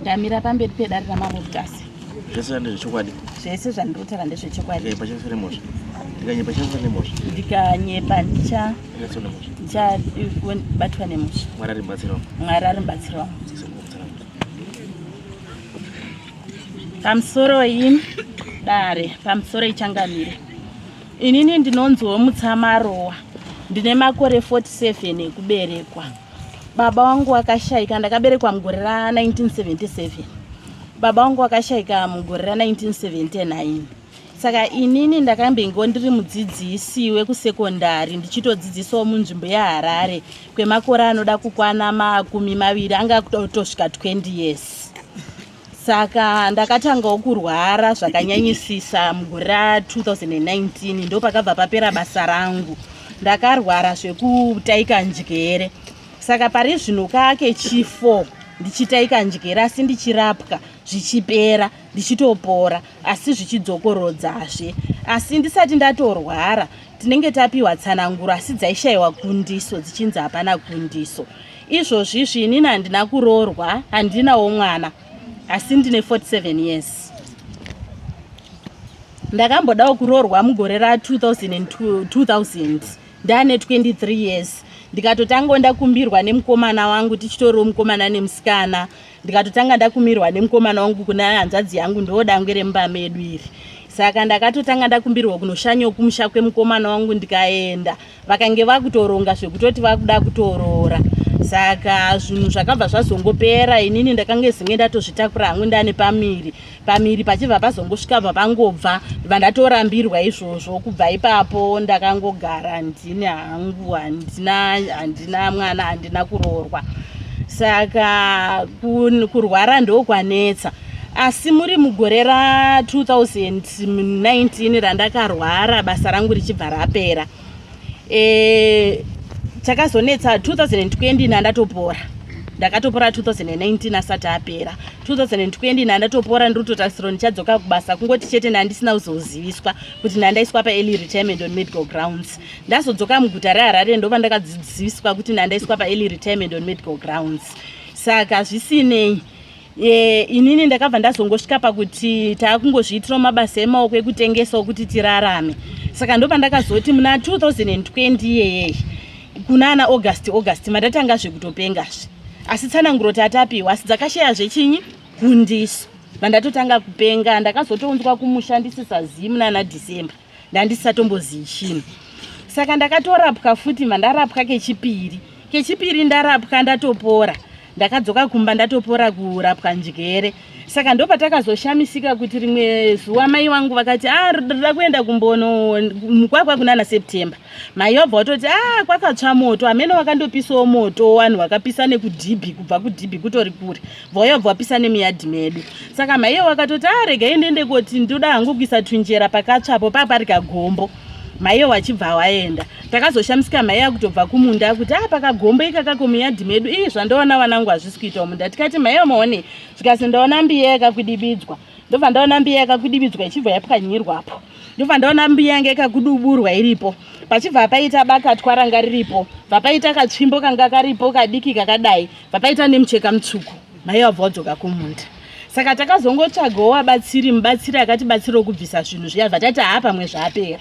ndamira pamberi pedare ramambo mutasi zvese ndezvechokwadi zvese zvandirotara ndezvechokwadi ndikanyepachafiremozva ndikanyepachafiremozva ndikanyepa ndicha ndichabatwa eh, nemosha mwari ari mubatsiri wangu mwari ari mubatsiri wangu pamusoroi dare pamusoro ichangamire inini ndinonziwo mutsamarowa ndine makore 47 ekuberekwa Baba wangu wakashaika ndakaberekwa mugore ra 1977. Baba wangu wakashaika mugore ra 1979. Saka inini ndakambingo ndiri mudzidzisi wekusekondari ndichitodzidzisawo munzvimbo yeHarare kwemakore anoda kukwana makumi maviri anga kutosvika 20 years. saka ndakatangawo kurwara zvakanyanyisisa mugore ra 2019 ndopakabva papera basa rangu ndakarwara zvekutaika njere saka pari zvino kake chi 4 ndichitaika njere asi ndichirapwa zvichipera ndichitopora asi zvichidzokorodzazve asi ndisati ndatorwara tinenge tapiwa tsananguro asi dzaishayiwa kundiso dzichinzi hapana kundiso Izvozvi izvi inini handina kuroorwa, handinawo mwana, asi ndine 47 years. Ndakambodawo kuroorwa mugore ra 2002, 2000 ndane 23 years ndikatotanga ndakumbirwa nemukomana wangu tichitoriwo mukomana nemusikana ndikatotanga ndakumirwa nemukomana wangu kune hanzvadzi yangu ndiwo dangwe remumba medu iri saka ndakatotanga ndakumbirwa kunoshanyawo kumusha kwemukomana wangu ndikaenda vakange vakutoronga zvekutoti vakuda kutoroora saka zvinhu zvakabva zvazongopera inini ndakange zinge ndatozvitakura hangu ndane pamiri pamiri pachibva pazongosvika bva pangobva bva ndatorambirwa izvozvo kubva ipapo ndakangogara ndini hangu handina handina mwana handina kuroorwa saka kurwara ndokwanetsa asi muri mugore ra 2000 19 randakarwara basa rangu richibva rapera e, chakazonetsa 2020 nandatopora ndakatopora 2019 asati apera 2020 nandatopora ndiri kutotarisirwa ndichadzoka kubasa kungoti chete ndandisina kuzoziviswa kuti ndandaiswa paearly retirement on medical grounds ndazodzoka muguta reharare ndova ndakadzidziswa kuti ndandaiswa paearly retirement on medical grounds saka zvisinei e, inini ndakabva ndazongosvika pakuti taakungozviitirawo mabasa emaoko ekutengesawo kuti tirarame saka ndopandakazoti muna 2020 iyeyei kuna ana august august matatanga zvekutopengazve asi tsananguro tatapiwa asi dzakashaya zvechinyi kundiso vandatotanga kupenga ndakazotounzwa kumushandisisa zimu nana december ndandisatombozii chinhu saka ndakatorapwa futi mandarapwa kechipiri kechipiri ndarapwa ndatopora ndakadzoka kumba ndatopora kurapwa njere saka ndopatakazoshamisika kuti rimwe zuva mai wangu vakati a ah, rida kuenda kumbono mukwakwa kunana september mai wabva watoti a ah, kwakatsva moto amene wakandopisawo moto wanhu wakapisa nekudhibhi kubva kudhibhi kutori kure vauya bvawapisa nemuyadhi medu saka maiye wakatoti arega ah, ende ende koti ndoda hangu kuisa tunjera pakatsvapo paa pari kagombo maiye wachibva waenda takazoshamisika maiye akutobva kumunda akuti aa ah, pakagombo ikakako muyadhi medu ii zvandaona vanangu hazvisi kuitawo munda tikati maiye maone zvikasi ndaona mbiya yakakudibidzwa ndobva ndaona mbiya yakakudibidzwa ichibva yapwanyirwapo ndobva ndaona mbiya yanga yakakuduburwa iripo pachibva paita bakatwa ranga riripo bva paita katsvimbo kanga karipo kadiki kakadai Pakaita nemucheka mutsvuku maiva vabva vadzoka kumunda saka takazongotsvagawo wabatsiri mubatsiri akatibatsira okubvisa zvinhu zviya bva tati haa pamwe zvaapera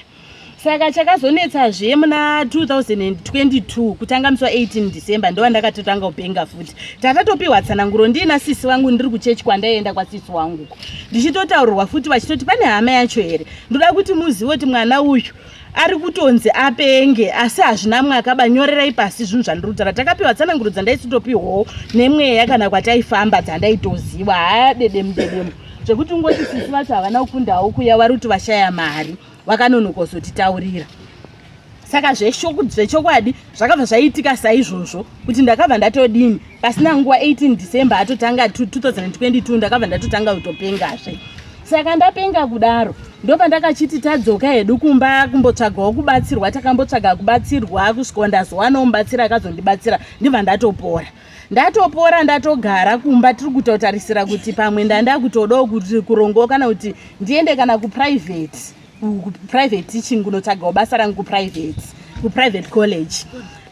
saka chakazonetsazve muna 2022 kutanga musi wa 18 december ndova ndakatotanga kupenga futi tatatopiwa tsananguro ndiina sisi vangu ndiri kuchechi kwandaienda kwasisi wangu ndichitotaurirwa futi vachitoti pane hama yacho here ndoda kuti muzive kuti mwana uyu ari kutonzi apenge asi hazvina mwaka banyorerai pasi zvinhu zvandirudzana takapiwa tsananguro dzandaisitopiwawo nemweya kana kwataifamba dzandaitoziva haya dedemu dedemu zvekuti ungoti sisi vacho havana kukundawo kuya vari kuti vashaya mari vakanonokosotitaurira saka zvechokwadi zvakabva zvaiitika saizvozvo kuti ndakabva ndatodini pasina nguva 18 december atotanga 2022 ndakabva ndatotanga kutopengazve saka ndapenga kudaro ndopa ndakachiti tadzoka hedu kumba kumbotsvagawo kubatsirwa takambotsvaga kubatsirwa kusvikawa ndazowanawo mubatsira akazondibatsira ndibva ndatopora ndatopora ndatogara kumba tiri kutotarisira kuti pamwe ndandakutodawo kuti kurongowo kana kuti ndiende kana kuprivate kuprivate teaching kunotsvagawo basa rangu kuprivate kuprivate college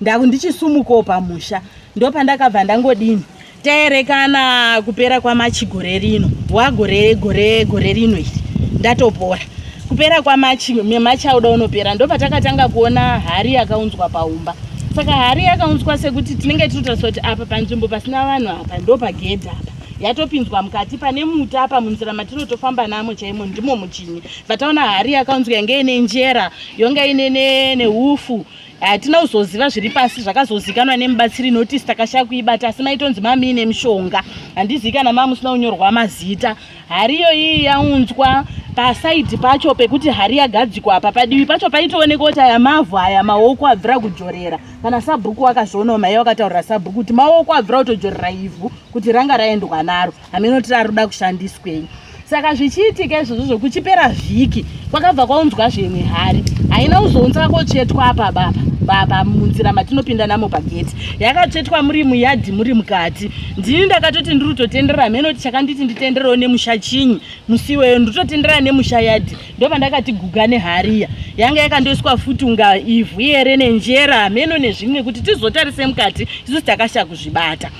ndaku ndichisumukawo pamusha ndopandakabva ndangodini taerekana kupera kwamachi gore rino wagore gore gore rino iri ndatopora kupera kwamachi memachi auda unopera ndopatakatanga kuona hari yakaunzwa paumba saka hari yakaunzwa sekuti tinenge tinotariswa kuti apa panzvimbo pasina vanhu apa ndopagedhi apa yatopinzwa mukati pane muti apa munzira matinotofamba namo chaimo ndimo muchini vataona hari yakaunzwa yange ine njera yonge ine neufu hatina kuzoziva zviri pasi zvakazozikanwa nemubatsiri notice takashaya kuibata asi maitonzi mamiine mishonga handizivi kana maa musina kunyorwa mazita hari iyo iyi yaunzwa pasaidi pacho pekuti hari yagadzikwa apa padivi pacho paitoonekwa kuti aya mavhu aya maoko abvira kujorera kana sabhuku wakazvionawo maiye wakataurira sabhuku kuti maoko abvira kutojorera ivhu kuti ranga raendwa naro hameno tiri ari kuda kushandiswei saka zvichiitika izvozvo zvokuchipera vhiki kwakabva kwaunzwa zvimwe hari haina kuzounza kwakotsvetwa apa baba baba munzira matinopinda namo pageti yakatsvetwa muri muyadhi muri mukati ndini ndakatoti ndiri kutotendera hameno kuti chakanditi nditenderewo nemusha chinyi musiweyo ndiri kutotendera nemusha yadhi ndopandakati guga nehariya yanga yakandoiswa futi unga ivhu yere nenjera hameno nezvimwe kuti tizotarise mukati isusu takasha kuzvibata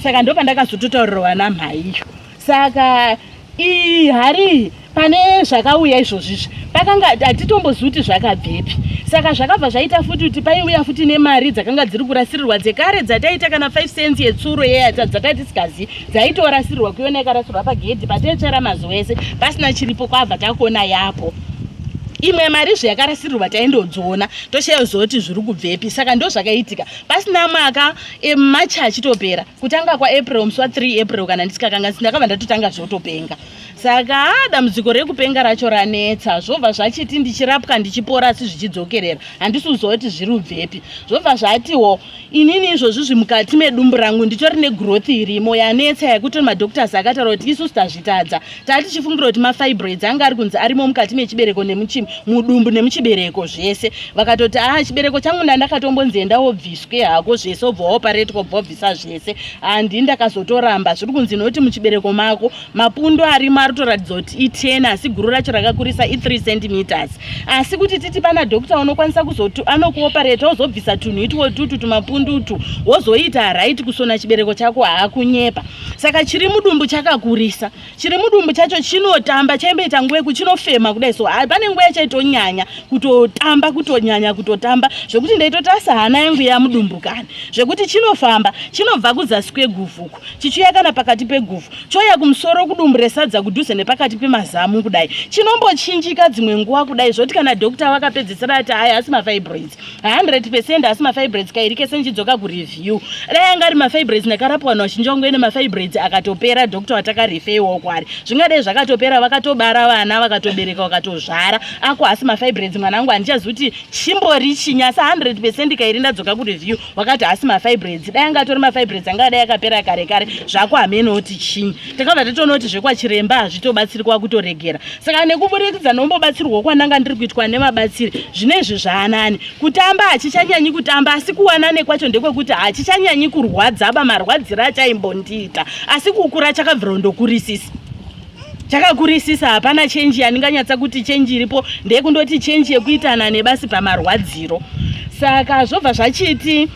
saka ndopandakazototaurirwa namhaiyo saka ii hari pane zvakauya izvozvizvi pakanga hatitombozivi kuti zvakabvepi saka zvakabva zvaita futi kuti paiuya futi nemari dzakanga dziri kurasirirwa dzekare dzataita kana 5 cents yetsuro yeya dzatatisingazivi dzaitorasirwa kuyona ikarasirwa pagedhi pataitsvera mazuva ese pasina chiripo kwabva takuona yapo imwe mari zve yakarasirwa taindodziona toshaya zoti zviri kubvepi saka ndo zvakaitika pasina mwaka e, machi achitopera kutanga kwaapril musi wa 3 april kana ndisikakanga sindakabva ndatotanga zvotopenga saka dambudziko rekupenga racho ranetsa zvobva zvachiti ndichirapwa ndichipora asi zvichidzokerera handisi kuzoti zviri ubvepi zvobva zvatiwo inini izvozvi zvimukati medumbu rangu nditori negrowth irimo yanetsa yakuti madoctors akataura kuti isusu tazvitadza taa tichifungira kuti mafibroids anga ari kunzi arimo mukati mechibereko nemuchi mudumbu nemuchibereko zvese vakatoti aa ah, chibereko changu ndandakatombonzi enda wobviswe hako zvese obva waoparetwa obva wabvisa zvese handii ndakazotoramba zviri kunzi nokuti muchibereko mako mapundu arimo ari kutoratidza kuti i10 asi guru racho rakakurisa i3 centimeters asi kuti titi pana doctor unokwanisa kuzoti anokuopereta wozobvisa tunhu itwo tutu tumapundu utu wozoita right kusona chibereko chako haakunyepa saka chiri mudumbu chakakurisa chiri mudumbu chacho chinotamba chaimboita nguva yeku chinofema kudai so pane nguva yachaitonyanya kutotamba kutonyanya kutotamba zvekuti ndaitotasa hana yangu yamudumbukani zvekuti chinofamba chinobva kuzasi kweguvhuku chichiuya kana pakati peguvhu choya kumusoro kudumbu resadza kudhuze nepakati pemazamu kudai chinombochinjika dzimwe nguva kudai zvoti kana dhokta vakapedzesera ati haya asi mafibroids 100 pecent asi mafibroids kairi kese ndichidzoka kureview dai anga ari mafibroids ndakarapwa vanhu vachinji vangu ene mafibroids akatopera dhokta vatakarefeiwawo kwari zvingadai zvakatopera vakatobara vana vakatobereka vakatozvara ako asi mafibroids mwana wangu handichazi kuti chimbori chinyasa 100 pecent kairi ndadzoka kureview vakati hasi mafibroids dai anga atori mafibroids anga adai akapera kare kare zvako hamene oti chinyi takabva tatoona kuti zvekwachiremba hazvitobatsirika wakutoregera saka nekuburikidza nombobatsirwa kwananga ndiri kuitwa nevabatsiri zvine izvi zvaanani kutamba hachichanyanyi kutamba asi kuwanane kwacho ndekwekuti hachichanyanyi kurwadzaba marwadzira achaimbondiita asi kukura chakabvira ndokurisisa chakakurisisa hapana chenji yandinganyatsa kuti chenji iripo ndeyekundoti chenji yekuitana nebasi pamarwadziro saka zvobva zvachiti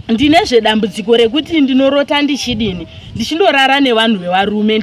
ndine zvedambudziko rekuti ndinorota ndichidini ndichindorara nevanhu vevarume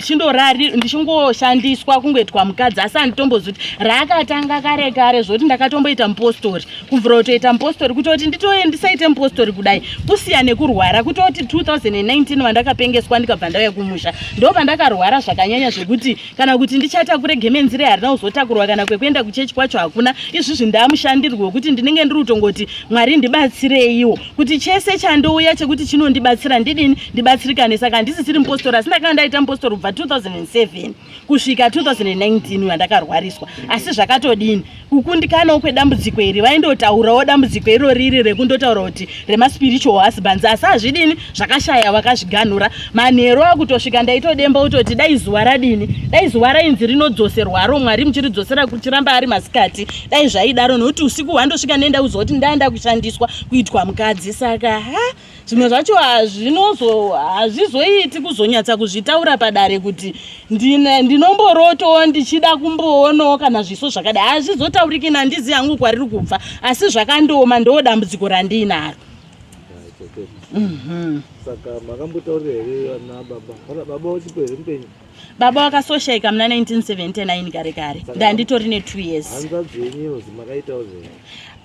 ndichingoshandiswa kungoitwa mukadzi asi anditombozoti raakatanga kare kare zvoti ndakatomboita mupostori kubvira kutoita mupostori kutoti nditouye ndisaite mupostori kudai kusiya nekurwara kutoti 2019 vandakapengeswa ndikabva ndauya kumusha ndo pandakarwara zvakanyanya zvekuti kana kuti ndichatakure gemenzire harina kuzotakurwa kana kwekuenda kuchechi kwacho hakuna izvizvi ndamushandirwo wekuti ndinenge ndiri kutongoti mwari ndibatsireiwo kuti chese chandouya chekuti chinondibatsira ndidini ndibatsirikane saka handisisiri mupostori asi ndakanga ndaita mupostori kubva 2007 kusvika 2019 uyo andakarwariswa asi zvakatodini kukundikanawo kwedambudziko iri vaindotaurawo dambudziko iro riri rekundotaura kuti remaspiritual husbands asi hazvidini zvakashaya vakazviganhura manheru akutosvika ndaitodemba kutoti dai zuva radini dai zuva rainzi rinodzoserwaro mwari muchiridzosera kuchiramba ari masikati dai zvaidaro nokuti usiku hwandosvika nenda kuziva kuti ndaenda kushandiswa kuitwa mukadzi saka ha zvimwe zvacho hazvinozo hazvizoiti kuzonyatsa kuzvitaura padare kuti ndinomborotowo ndichida kumboonawo kana zviso zvakadai hazvizotauriki nandizi yangu kwariri kubva asi zvakandioma ndoo dambudziko randiinaro mhm. saka makambotaurira here ana baba kana baba uchipo here mupenyu baba vakasoshaika muna 1979 kare kare ndanditori ne2 years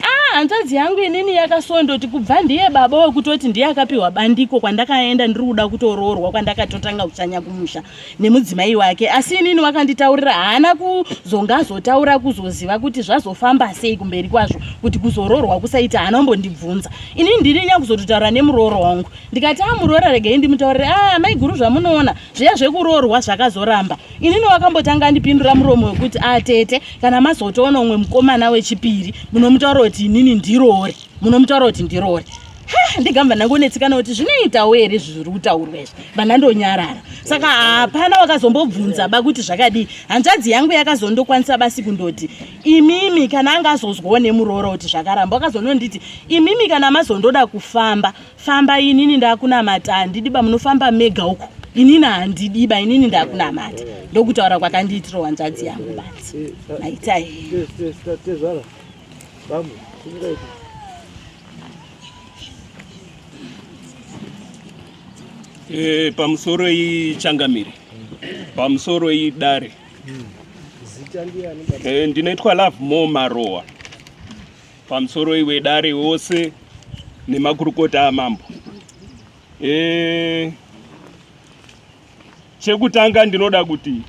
ah, hanzvadzi yangu inini yakasondoti kubva ndiye baba wekutoti ndiye akapiwa bandiko kwandakaenda ndiri kuda kutoroorwa kwandakatotanga kuchanya kumusha nemudzimai wake asi inini wakanditaurira haana kuzonga azotaura kuzoziva kuti zvazofamba sei kumberi kwazvo kuti kuzoroorwa kusaita haana kumbondibvunza inini ndiri nyakuzototaura nemurooro wangu ndikati amuroora ah, regei ndimutaurire a ah, maiguru zvamunoona zviya zvekuroorwa zvakazoramba inini wakambotanga andipindura muromo wekuti atete ah, kana mazotoona umwe mukomana wechipiri munomutaura kuti inini ndiroore munomutaura kuti ndiroore ndigamba ndangonetsikana kuti zvinoitawo here zviri kutaurwa izvi vana ndonyarara saka hapana wakazombobvunza ba kuti zvakadii hanzvadzi yangu yakazondokwanisa basi kundoti imimi kana anga azozwawo nemuroora kuti zvakaramba wakazononditi imimi kana mazondoda kufamba famba inini ndakunamata handidiba munofamba mega uko inini handidiba inini ndakunamata ndokutaura kwakandiitira wanzvadzi yangu bati maitai eh, pamusoro ichangamire pamusoro idare eh, ndinoitwa love more marowa pamusoroi wedare wose nemakurukota amambo e, chekutanga ndinoda kuti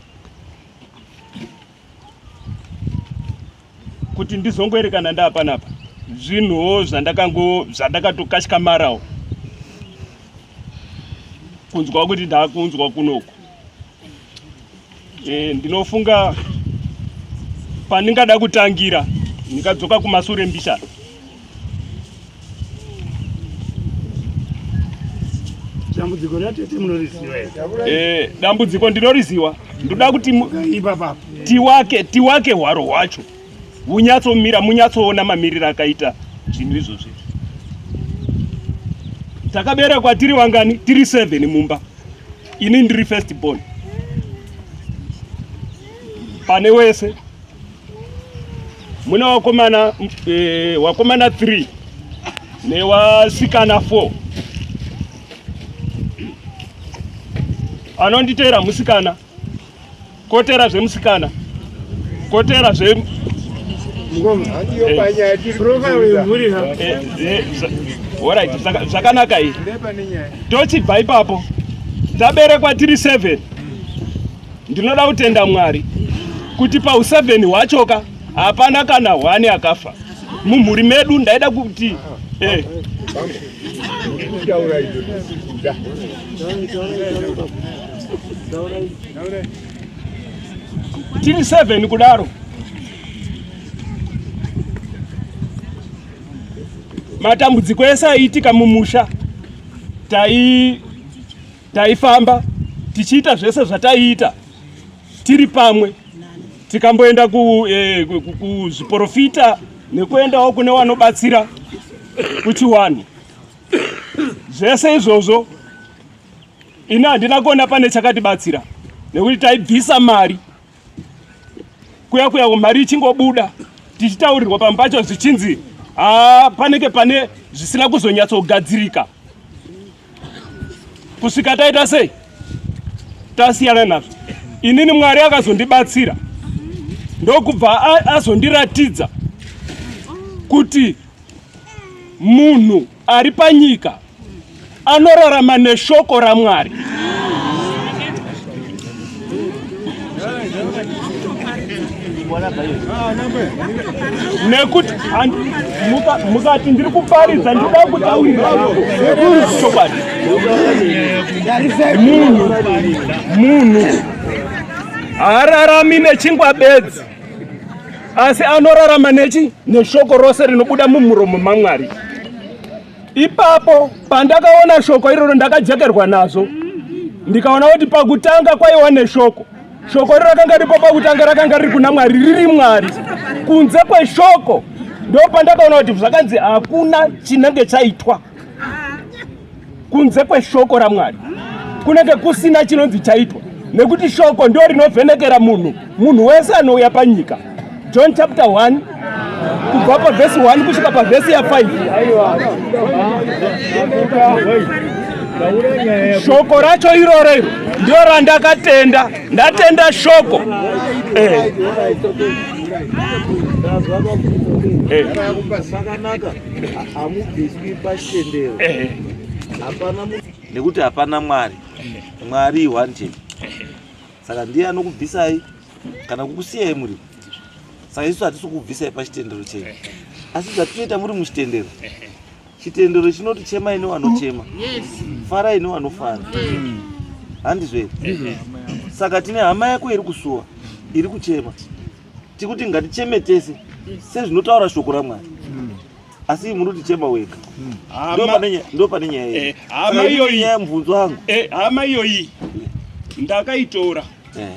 kuti ndizongoerekana ndaapanapa zvinhuwo zvandakango zvandakatokashkamarawo kunzwa kuti ndakunzwa kunoku E, ndinofunga pandingada kutangira ndikadzoka kumasure mbishana dambudziko ratete munoriziva eh dambudziko ndinoriziva ndoda kuti tiwake tiwake hwaro hwacho hunyatsomira munyatsoona mamiriro akaita zvinhu izvozvi takaberekwa tiri vangani tiri seven mumba Ini ndiri first born pane wese mune wakomana eh, wakomana 3 newasikana 4 anonditeera musikana Kotera zvemusikana. Kotera zve zvakanaka iyi tochibva ipapo taberekwa tiri 7 ndinoda kutenda mwari kuti pau 7 hwachoka hapana kana hwani akafa mumhuri medu ndaida kuti eh. tiri 7 kudaro matambudziko ese aiitika mumusha tai taifamba tichiita zvese zvataiita tiri pamwe tikamboenda eh, kuzviporofita eh, nekuendawo kune wanobatsira kuchiwani zvese izvozvo Ini handina kuona pane chakatibatsira nekuti taibvisa mari kuya kuya mari ichingobuda tichitaurirwa pamwe pacho zvichinzi haa panenge pane zvisina kuzonyatsogadzirika kusvika taita sei tasiyana nazvo inini mwari akazondibatsira ndokubva azondiratidza kuti munhu ari panyika anorarama neshoko raMwari. nekuti mukati ndiri kuparidza ndikuda kutaurira chokwadi munhu munhu haararami nechingwa bedzi asi anorarama nechi neshoko rose rinobuda mumuromo mamwari ipapo pandakaona shoko iroro ndakajekerwa nazvo ndikaona kuti pakutanga kwaiwa neshoko shoko iro rakanga ripo pakutanga rakanga riri kuna mwari riri mwari kunze kweshoko ndo pandakaona kuti zvakanzi hakuna chinenge chaitwa kunze kweshoko ramwari kunenge kusina chinonzi chaitwa nekuti shoko ndo rinovhenekera munhu munhu wese anouya panyika john chapter 1 kubva pavhesi 1 kusvika pavhesi ya 5 shoko racho iroro iro ndio randakatenda ndatenda shoko eh. Eh. hamubviswi pachitendero hapana nekuti hapana mwari mwari one chete saka ndiye anokubvisai kana kukusiyai muri saka isu hatisi kubvisai pachitendero chenyu asi zvatinoita muri muchitendero chitendero chinoti chemai newanochema farai newanofara handizvo here saka tine hama yako iri kusuwa iri kuchema tikuti ngaticheme tese sezvinotaura shoko ramwari asi muri kutichema wega ndo pane nyaya iyi eh, hama iyoyi nyaya mubvunzo wangu eh, hama iyoyi ndakaitora eh.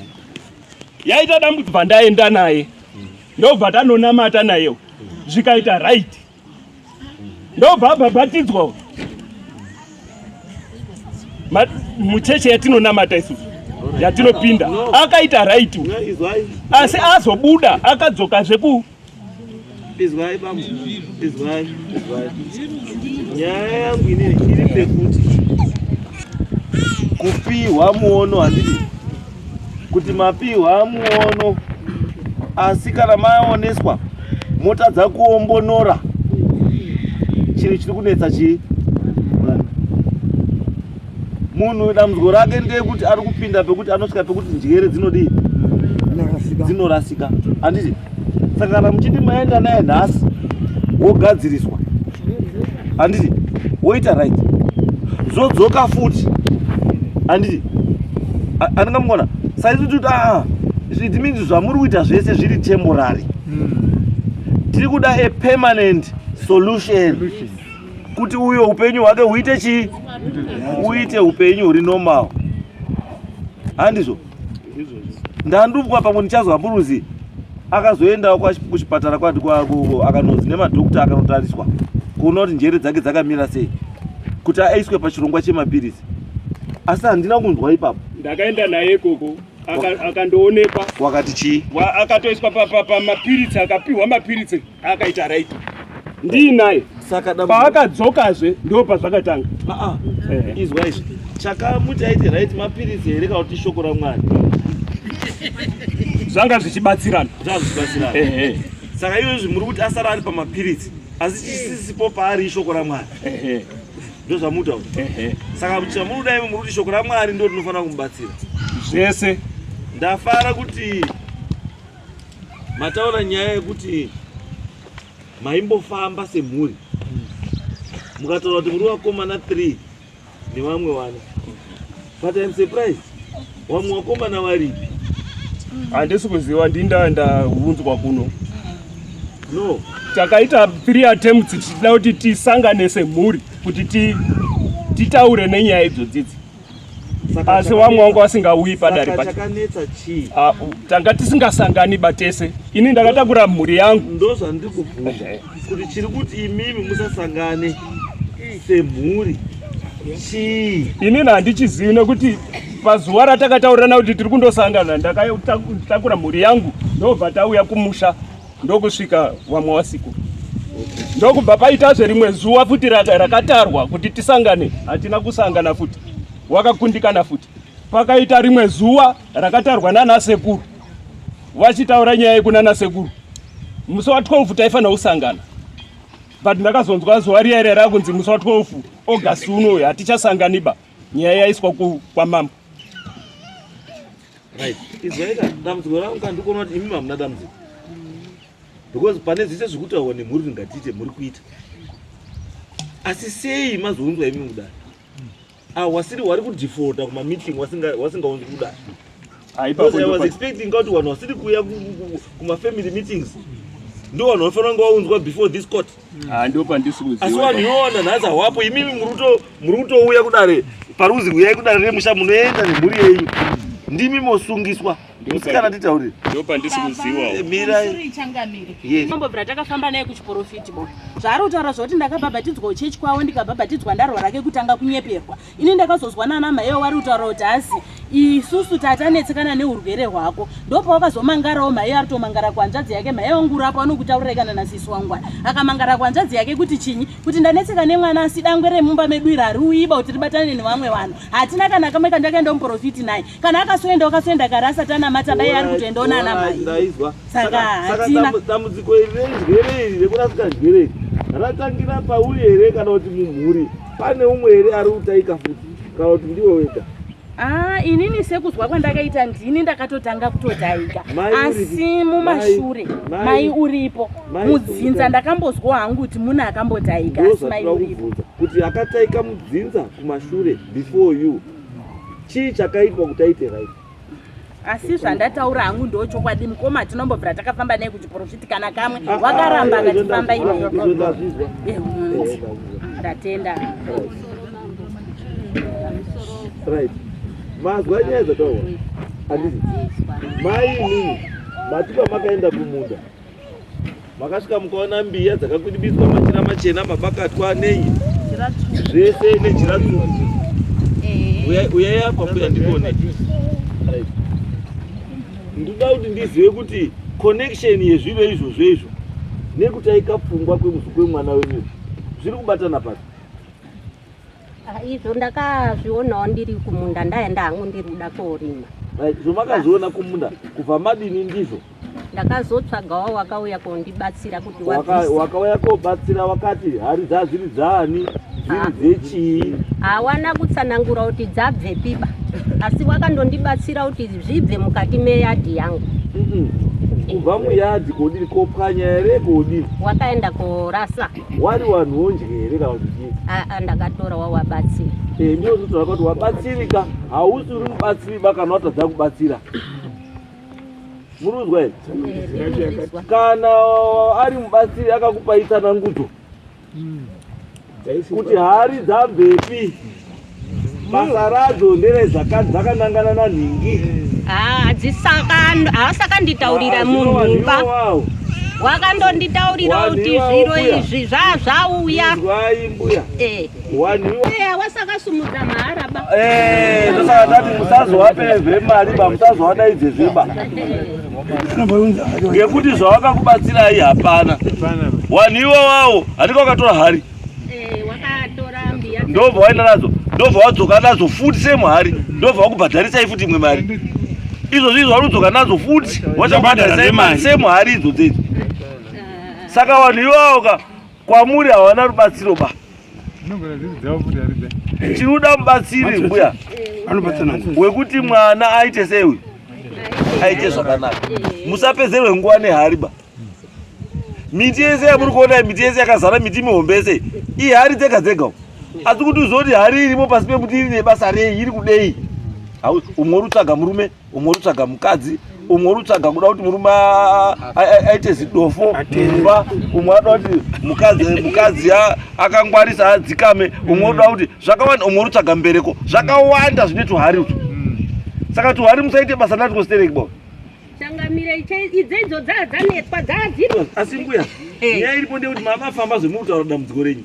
yaita dambudziko bva ndaenda naye ndobva tanonamata nayewo zvikaita right ndobva abhabhatidzwa uyu mucheche yatinonamata isusu yatinopinda akaita right asi azobuda akadzoka zveku izwai bambo izwai izwai nyaya yangu inei iri pekuti kupiwa muono handidi kuti mapihwa muono asi kana maoneswa motadza kuombonora chinhu chiri kunetsa chii munhu dambudziko rake ndeyekuti ari kupinda pekuti anosvika pekuti njere dzinodii dzinorasika handiti saka kana muchiti maenda naye nhasi wogadziriswa handiti woita right zodzoka futi handiti andinga mukona saizi kuti aa it means zvamuri kuita zvese zviri temporary hmm. tiri kuda a permanent solution kuti uyo upenyu hwake huite chii uite upenyu huri normal handizvo ndandubwa pamwe ndichazwa mburuzi akazoendawo kuchipatara kwati kwako akanonzi nemadhokta akanotariswa kuona kuti njere dzake dzakamira sei kuti aiswe pachirongwa chemapiritsi asi handina kunzwa ipapo ndakaenda naye ikoko akandoonekwa wakati chii akatoiswa pamapiritsi akapiwa mapiritsi akaita right ndii naye paakadzokazve ndo pazvakatanga ah, ah. eh. izwa izvi chakamuti aiti right mapiritsi here kana kuti shoko ramwari zvanga zvichibatsirana zvanga zvichibatsirana eh, eh. saka iyo izvi muri kuti asara ari pamapiritsi asi chisisipo paari ishoko ramwari ndozvamuta saka chamunoda imi muri kuti shoko ramwari ndo rinofanira kumubatsira zvese ndafara kuti Mataura nyaya yekuti maimbofamba semhuri mukataura kuti muri vakomana 3 nevamwe vana but im surprised vamwe vakomana varipi handisi kuziva ndinda ndaunzwa kuno no takaita three attempts tichida kuti tisangane semhuri kuti titaure nenyaya idzodzidzi asi vamwe vanga vasingauyi padare pacho ah, tanga tisingasangani batese ini ndakatakura mhuri yangu ndozvandiri kubvunza kuti chiri kuti imimi musasangane semhuri chii inini handichizivi nekuti pazuva ratakataurirana kuti tiri kundosangana ndakatakura mhuri yangu ndobva tauya kumusha ndokusvika vamwe wasiku ndokubva paitazve rimwe zuva futi rakatarwa kuti tisangane hatina kusangana futi wakakundikana futi pakaita rimwe zuva rakatarwa nana sekuru vachitaura nyaya yekunana sekuru musi wa 12 taifanira kusangana but ndakazonzwa zuva riya ira rakunzi musi wa 12 august unoyo hatichasanganiba nyaya yaiswa kwamambo right izwaika dambudziko rangu ka ndikuona kuti imimi hamuna dambudziko because pane zvese zvekutaurwa nemhuri kuti ngatiite muri kuita asi sei mazounzwa imimi kudai ah, wasiri wari kudefaulta kumameeting wasingaunzi kudai ah, because i was expecting ka kuti vanhu vasiri kuuya kumafamily meetings ndo vanhu vanofanira kunge vaunzwa before this court Ah, ndo pandisi kuziva asi vanhu yoona nhasi hawapo imimi muri kutouya kudare paruzi huyai kudare remusha munoenda nemhuri yenyu ndimi mosungiswa musikana nditaurire ndo pandisi kuziwaomiramambobvira takafamba naye kuchiporofiti bo zvaari kutaura zvokuti ndakabhabhatidzwa uchechi kwavo ndikabhabhatidzwa ndarwa rake kutanga kunyeperwa ini ndakazozwa nana maiyo wari kutaura kuti hazi isusu tatanetsekana neurwere hwako ndopawakazomangarawo maiyo ari tomangara kuhanzvadzi yake maiyo wangu urapo anokutaurirai kana nasisi wangwana akamangara kuhanzvadzi yake kuti chinyi kuti ndanetseka nemwana asi dangwe remumba medu iri hariuyiba kuti ribatane nevamwe vanhu hatina kana kamwe kandakaenda muprofiti naye kana akasoenda wakasoenda kare asati anamata bai ari kutoendawo nana mai saka hatina dambudziko iri renjere iri rekurasika njere iri ratangira pauri here kana kuti mumhuri pane umwe here ari kutaika futi kana kuti ndiwe wega Ah, inini sekuzwa kwandakaita ndini ndakatotanga kutotaika asi mumashure mai uripo mudzinza ndakambozwa hangu kuti muna akambotaika asi mai uripo kuti akataika mudzinza kumashure before you Chii chakaitwa kuti aite right? asi zvandataura hangu ndo chokwadi mukoma tinombobvira takafamba naye kuchiporofiti kana kamwe ah, ah, wakaramba ah, akatifamba eh, ndatenda right mazwa nyaya dzataura andii mai inini matipa makaenda kumunda makasvika mukaona mbiya dzakakwidibidzwa machira machena mabakatwa nei zvese nejira tsvuku eh. uyai apa mbuya ndikone ndinoda kuti ndizive kuti connection yezviro izvozvo izvo nekutaika pfungwa kwemuzi kwemwana wenyu zviri kubatana pasi ah, izvo ndakazvionawo ndiri kumunda ndaenda hangu ndiri kuda koorima zvomakazviona kumunda kubva madini ndizvo ndakazotsvagawo wakauya kondibatsira kuti wakauya kobatsira wakati hari dzazviri dzaani dziri ah. dzechii hawana kutsanangura kuti dzabvepiba asi wakandondibatsira kuti zvibve mukati meyadhi yangu kubva muyadhi kodii kopwanya here kodii wakaenda korasa wari wanhu wonje here kana kudii aa ah, ah, ndakatora wawabatsira e eh, ndiozotora kuti wabatsirika hausi uri mubatsiriba kana watadza kubatsira murinzwa here kana ari mubatsiri akakupai tsanangudzo hmm. kuti hari dzabvepi basa radzo ndere dzakanangana nanhingi haasakanditaurira ah, munhuba wakandonditaurira kuti zviro izvi zvazvauya wasakasumudza mahara ba eh tosaka tati musazowapeve mari ba musazowadaidze zveba ngekuti zvawakakubatsirai hapana wanhu iwawawo handika wakatora hari eh, ndobva waenda nadzo ndobva wadzoka nadzo futi semuhari ndobva wakubhadharisai futi imwe mari izvozvi izvo wanodzoka nadzo futi wachabhadharisai mari semuhari idzo dzeidzo saka vanhu iwawo ka Kwamuri hawana rubatsiro ba. Tinoda mubatsiri mbuya wekuti mwana aite sei uyu aite zvakanaka. Musapedzerwe nguva nehari ba. Miti yese yamuri kuona miti yese yakazara miti mihombe yese ihari dzega dzega uko asi kuti uzoti hari irimo pasi pemuti iri nebasa rei iri kudei umwe uri kutsvaga murume umwe urutsvaga mukadzi umwe urutsvaga kuda kuti murume aite zidofo mumba umwe anoda kuti mukadzi mukadzi akangwarisa adzikame umwe unoda kuti zvakawanda umwe urutsvaga mbereko zvakawanda zvine tuhari utwo mm. saka tuhari musaite basa nati kustereki bo changamire idzeidzo dzaa dzanetwa dzaadzirwa asi mbuya eh. nyaya iripo ndeyekuti mama famba zvemurutaura dambudziko renyu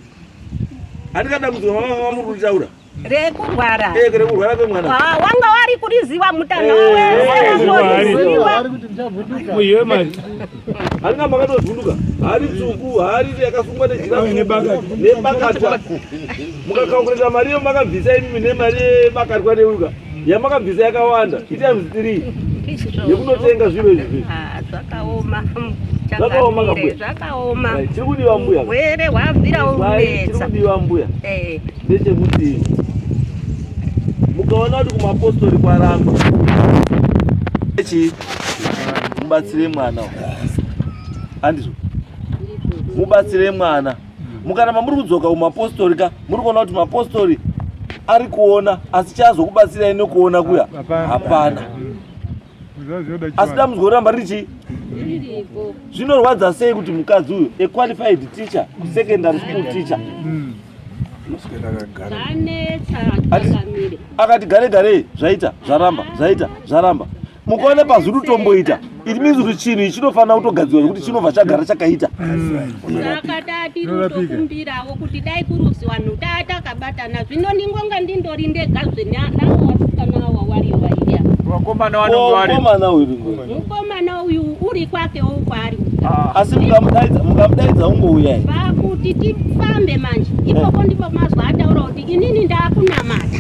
handikadambudziko mama famba muri kutaura rekurwara eh, rekurwara kwemwana ah, wanga wari kuriziva mutana wezvoriziva muhiwe mari haringa makatozunduka hari tsuku hari yakasungwa nebakatwa mukakakurira mari iyo makabvisa imimi nemari yebakatwa neuka yamakabvisa yakawanda itimes three yekunotenga zviro izvi ah, zvakaoma zvakaoma zvakaoma chiri kudiwa mbuya hwere hwabvira unetsa chiri kudiwa mbuya eh. ndechekuti mukaona kuti kumapostori kwaramba echi mubatsire mwana handizvo mubatsire mwana mukaramba muri kudzoka kumapostori ka muri kuona kuti mapostori ari kuona asi chazokubatsirai nekuona kuya hapana asi dambudziko roramba riri chii zvinorwadza sei kuti mukadzi uyu a qualified teacher secondary school teacher hmm. akati gare garei zvaita zvaramba zvaita zvaramba mukaona pazviri kutomboita it means kuti chinhu ichi chinofanira kutogadzirwa zvekuti chinobva chagara chakaita hmm. saka daa tiri kutokumbirawo kuti dai kuruzi vanhu daa takabatana zvino ndingonga ndindori ndega zvenavo vasikana awa wari waiya vakomana vanonge vari mukomana uyu mukomana uyu uri kwake wo kwaari ah. asi mukamudaidza mukamudaidza ungouya vakuti tifambe manje ipoko ndipo mazwa ataura kuti inini ndakunamata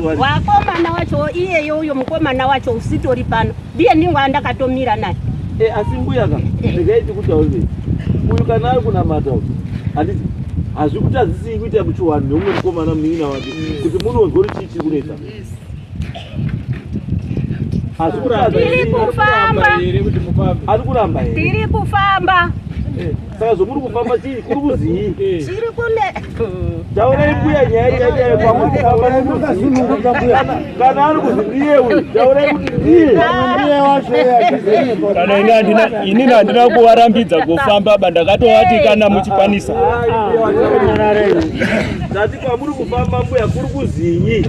wakomana wacho iyeyo uyo mukomana wacho usitori pano ndiye ndingu andakatomira naye e, asi mbuya ka regai tikutaurire uyu kana ari kunamata uyu handiti hazvikutadzisii kuita muchuwani neumwe mukomana munin'ina wake kuti munonzwa kuti chii chiri kunetsa hazvikutadzisii kuti mufambe ari kuramba here tiri kufamba eh. Saka zvomuri kufamba chii kuri kuzii? Chiri kune. Taurai mbuya nyaya chaichayo kwamuri kufamba nokuzununguka mbuya. Kana ari kuzi ndiye uyu, taurai kuti ndiye. Ndiye wacho yake. Kana ini andina ini andina kuvarambidza kufamba ba ndakatovati kana muchikwanisa. Tati kwamuri kufamba mbuya kuri kuzii?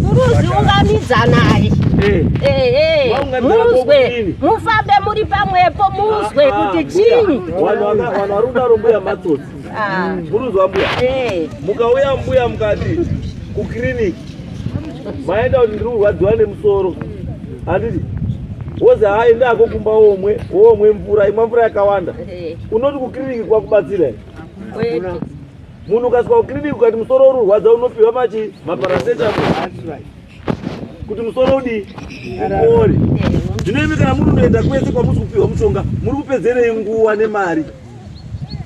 Muruzi ungamidza naye eh. eh, eh. muzwe mufambe muri pamwepo muzwe ah, kuti chii vanhu vari kudaro mbuya matsotsi ah. muruzi wambuya mukauya mbuya mukati kukiriniki maenda kuti ndiri kurwadziwa nemusoro handiti wozi hai ndako kumba womwe womwe mvura imwa mvura yakawanda unoti kukiriniki kwakubatsira here munhu ukasvika kuclinic ukati musoro uri urwadza unopiwa machi maparacetamol kuti musoro udii upore zvino imi kana muri unoenda kwese kwamusi kupiwa mushonga muri kupedzerei nguva nemari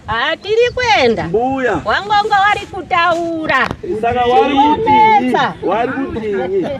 haa tiri kuenda mbuya wangongo wari kutaura saka wari kutii wari kutii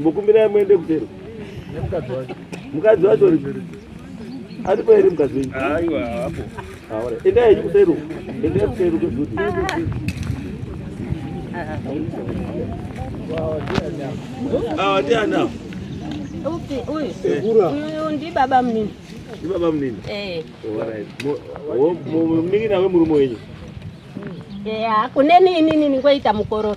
Mukumbirai muende kutero. Mukadzi wacho. Mukadzi wacho aripo here mukadzi wenyu? Aiwa hapo. Haora. Enda henyu kutero. Enda kutero kwezuti. Awa ndiana. Upi uyu? Uyu ndi baba mnini. Ndi baba mnini? Eh. Alright. Mnini nawe murume wenyu? Yeah, kuneni inini ningoita mukororo.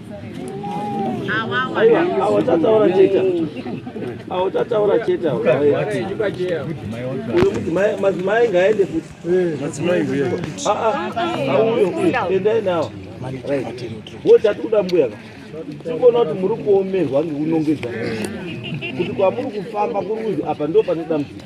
awatataura chete awatataura chete madzimai ngaende futi endai nawo wo tati kuda mbuya ka tikuona kuti muri kuomerwa ngekunongedza kuti kwamuri kufamba kuri kuzi apa ndo pane dambudziko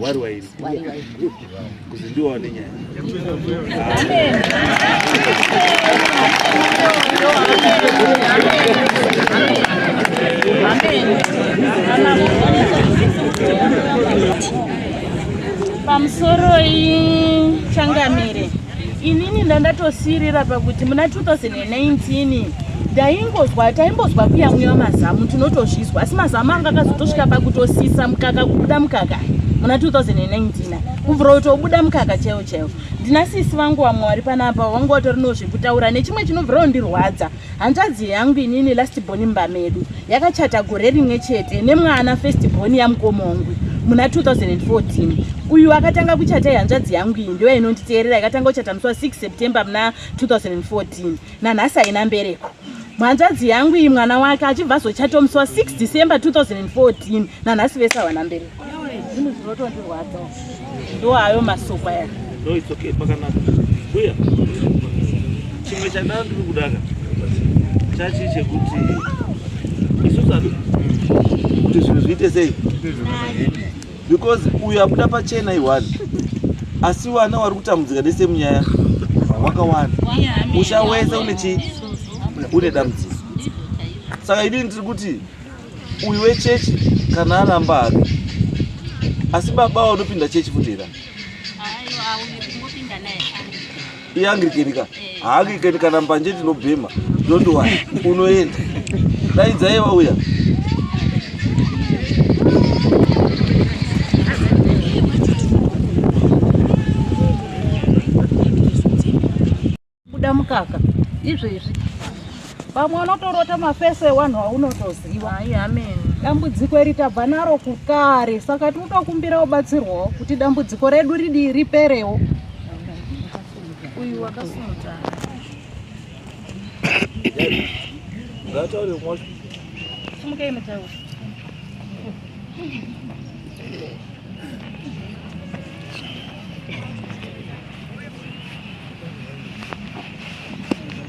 wari wairi kuzi ndiwo wane nyaya pamusoroi changamire inini ndandatosiirira pakuti muna 2019 ndaingozwa taimbozwa kuyamwiwa mazamu tinotozvizwa asi mazamu anga akazotosvika pakutosisa mukaka kubuda mukaka muna 2019 kubvira utobuda mukaka chaiwo chaiwo ndina sisi vangu vamwe vari panapa vanga vatori no zvekutaura nechimwe chinobvirawo ndirwadza hanzvadzi yangu inini last born mumba medu yakachata gore rimwe chete nemwana first born yamukomongwi muna 2014 uyu akatanga kuchata ihanzvadzi yangu iyi ndiyo inonditeerera ikatanga kuchata musi wa 6 september muna 2014 nanhasi haina mbereko mhanzvadzi yangu iyi mwana wake achibva azochata musi wa 6 december 2014 nanhasi vese hawana mbereko Zvinhu zvinotondirwadza ndo ayo masoko aya. No it's okay pakanaka. Uya. Chimwe chandanga ndiri kudaka chachi chekuti isusu ati kuti zvinhu zviite sei because uyu abuda pachena iwani asi wana wari kutambudzika nese munyaya wakawanda musha wese une chii une dambudziko saka idini tiri kuti uyu wechechi kana aramba hake asi baba vanopinda chechi futira iangirikenika eh. haangirikeni kana mbanje tinobhema don't wori unoenda daidzai vauya kuda mukaka izvezvi pamwe unotorota mafese ewanhu waunotoziva hayi amen dambudziko iri tabva naro kukare saka tiri kutokumbira ubatsirwawo kuti dambudziko redu ridii riperewo uyu wakasumuta sumukei mutauri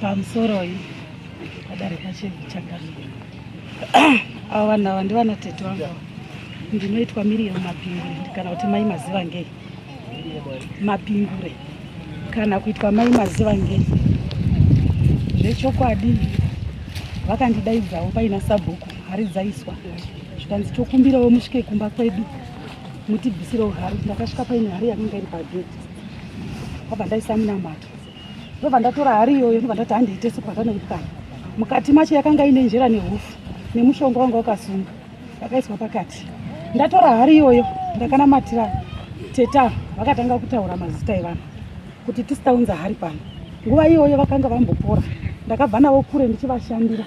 pamusoroi padarika chevichakani avo vanhu ava ndivana tete vangu ndinoitwa miriam mapingure kana kuti mai maziva ngei mapingure kana kuitwa mai maziva ngei zvechokwadi vakandidaidzawo paina sabhuku hari dzaiswa zvikanzi tokumbirawo musvike kumba kwedu mutibvisirewo hari ndakasvika paine hari yakanga iri pageti ndobva ndaisa munamato ndobva ndatora hari iyoyo ndobva ndati handiite sipata nekutanga mukati macho yakanga ine njera nehufu nemushonga wanga wakasunga yakaiswa pakati ndatora hari iyoyo ndakanamatira teta vakatanga kutaura mazita evanhu kuti tisitaunza hari pano nguva iyoyo vakanga vambopora ndakabva navo kure ndichivashandira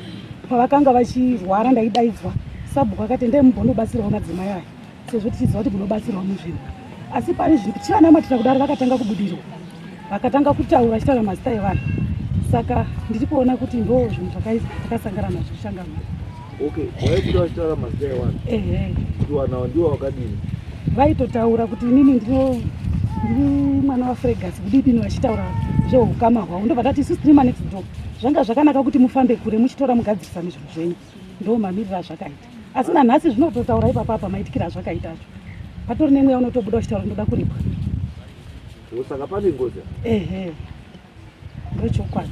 pavakanga vachirwara ndaidaidzwa sabhuku akati ndee mubhonobatsirawo madzimai aya sezvo tichiziva kuti munobatsirwa muzvinhu asi pane zviri kuti vanamatira kudaro vakatanga kubudirwa vakatanga kutaura vachitaura mazita evanhu saka ndiri kuona kuti ndo zvinhu zvakasangana nazvo zvichangana okay waikuti vachitaura mazita evanhu ehe kuti wanawo ndiwo wakadini vaitotaura kuti inini ndino ndiri mwana wafregasi kudidini vachitaura zveukama hwavo ndobva tati isusu tiri manext door zvanga zvakanaka kuti mufambe kure muchitora mugadzirisane zvinhu zvenyu ndo mamiriro azvakaita asi nanhasi zvinototaura ipapa apa maitikira azvakaita acho patori nemweya unotobuda uchitaura ndoda kuripwa saka pane ngozi ehe ndochokwadi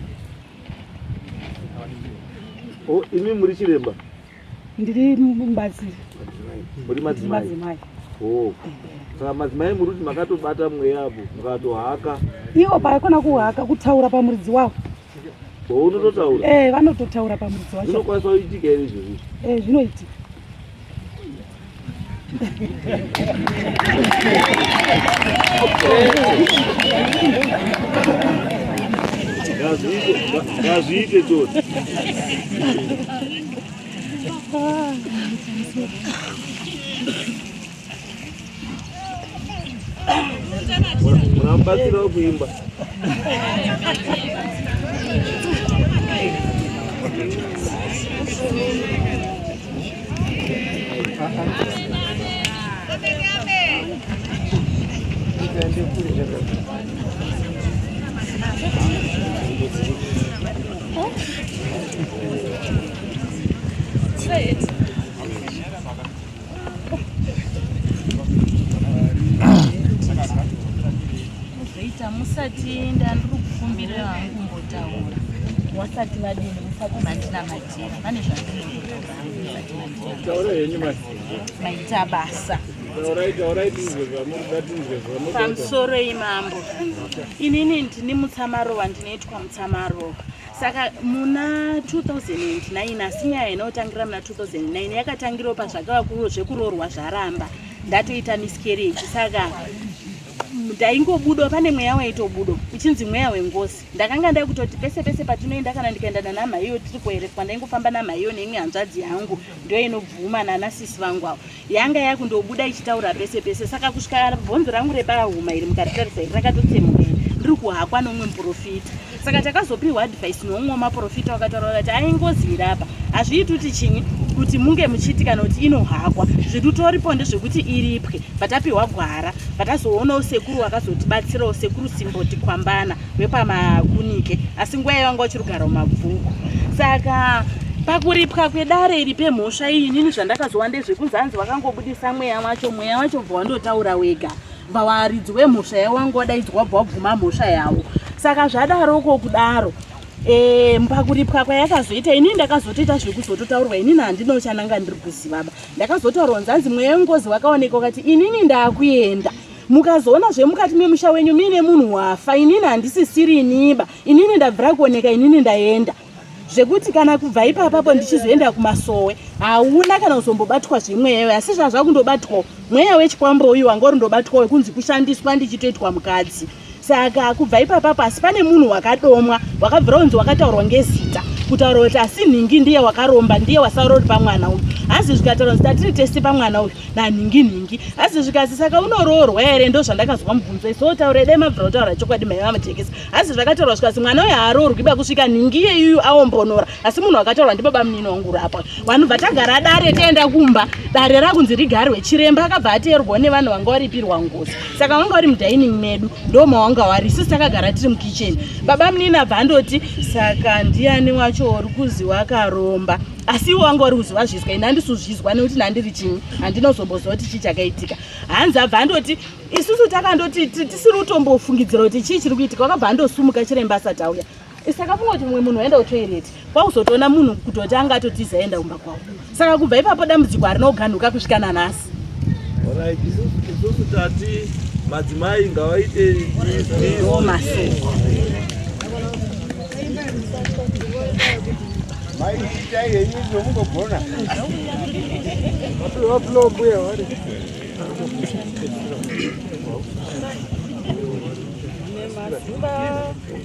oh, imi muri chiremba ndiri mubatsiri muri madzimai oh. saka madzimai muri kuti makatobata mweya apo mukatohaka iwo paakona kuhaka kutaura pamuridzi wavo Unototaura. Eh, vanototaura pamuridzi wacho. Zvinokwanisa kuitika here izvozvi? Eh, zvinoitika. Ngazviite choti. Munamubatsirawo kuimba. Huh? Muzoita musati ndandiri kufumbira hangu mbotaura. Wasati vadini musati mandina madini pane zvandinotaura henyu maita basa pamusoro imambo inini ndini mutsamarova ndinoitwa mutsamarova saka muna 2009 asi nyaya inotangira muna 2009 yakatangirawo pazvakava zvekuroorwa zvaramba ndatoita miscarriage saka ndaingobudo pane mweya waitobudo uchinzi mweya wengozi ndakanga ndai kutoti pese pese patinoenda kana ndikaenda nanamhaiyo tiri kuerefwa ndaingofamba namhaiyo neimwe hanzvadzi yangu ndoinobvuma nanasisi vangu avo yanga yakundobuda ichitaura pese pese saka kusvika bhonzo rangu rebahuma iri mukaritarisa iri rakatotsemuka ndiri kuhakwa noumwe muprofita saka takazopiwa advice noumwe wemaprofita wakataura vakati aingozi iri apa hazviiti kuti chinyi kuti munge muchiti kana kuti inohakwa zvirutoripo ndezvekuti iripwe patapiwa gwara patazoonawo sekuru wakazotibatsirawo sekuru simboti kwambana rwepamakunike asi nguva yavanga vachirugara mumabvuku saka pakuripwa kwedare iri pemhosva iyi inini zvandakazowa ndezvekunzi hanzi vakangobudisa mweya wacho mweya wacho bva wandotaura wega bva waridzi wemhosva yavo wanga wadaidzwa bva wabvuma mhosva yavo saka zvadaroko kudaro e, pakuripwa kwayakazoita inini ndakazotoita zvekuzototaurwa inini handina chananga ndiri kuzivaba ndakazotaurwa nzanzi mweya wengozi wakaoneka ukati inini ndakuenda mukazoona zvemukati memusha wenyu muine munhu wafa inini handisisiri iniba inini ndabvira kuoneka inini ndaenda zvekuti kana kubva ipapapo ndichizoenda kumasowe hauna kana kuzombobatwa zvemweya iwe asi zvazvakundobatwawo mweya wechikwambo uyu wanga uri ndobatwawo kunzi kushandiswa ndichitoitwa mukadzi saka kubva ipapa pasi pane munhu wakadomwa wakabvira unzi wakataurwa ngezita kutaura kuti asi nhingi ndiye wakaromba ndiye wasarori pamwana uyu hazi zvikataura kuti tatiri tese pamwana uyu nanhingi nhingi hazi zvikazi saka unoroorwa here ndo zvandakazwa mubvunzo iso otaura idai mabvira kutaura chokwadi mai vamajekesa hazi zvakataurwa zvikazi mwana uyu haaroorwi ba kusvika nhingi iyeyuyu aombonora asi munhu akataurwa ndibaba munini wangu urapwa vanobva tagara dare tienda kumba dare rakunzi rigarwe chiremba akabva ateerwa nevanhu vanga varipirwa ngozi saka wanga vari mudining medu ndoma wanga wari sisi takagara tiri mukitchen baba munini abva andoti saka ndiani wacho uri kuzi wakaromba asi iwo wanga wari kuziva zvizwa ini handisuzvizwa nekuti ndandiri chinyi handinozombozoti chii chakaitika hanzi abva andoti isusu takandoti tisiri kutombofungidzira kuti chii chiri kuitika wakabva andosumuka chiremba asati auya saka kungoti mumwe munhu aenda kutoilet kwakuzotoona munhu kutoti anga atotiza aenda kumba kwavo saka kubva ipapo dambudziko harina kuganhuka kusvika nanhasi isusu tati madzimai ngavaite masoko maiitai henyu zvomunogona vapulombuya vari Thank you.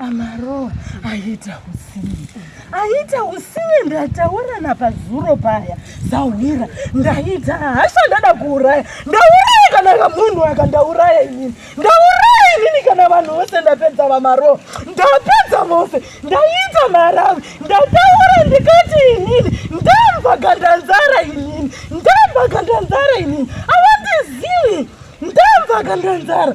Amarowa aita usivi, aita usivi. Ndataura napazuro paya zahwira, ndaita hasha, ndada kuuraya, ndauraya kana kamunhu aka, ndauraya inini, ndauraya inini kana vanhu vose, ndapedza vamarowa, ndapedza vose, ndaita maravi, ndataura ndikati inini ndamva gandanzara, inini ndamva gandanzara, inini avandizivi, ndamva gandanzara.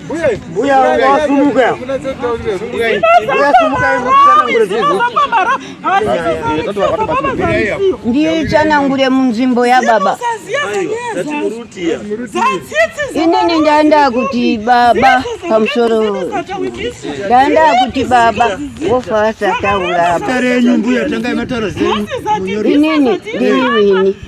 Uya wasumuka. Uya sumuka ndiyo chanangure munzvimbo yababa inini ndaenda kuti baba pamusoro ndaenda kuti baba wofa asataura apa inini ndiri wini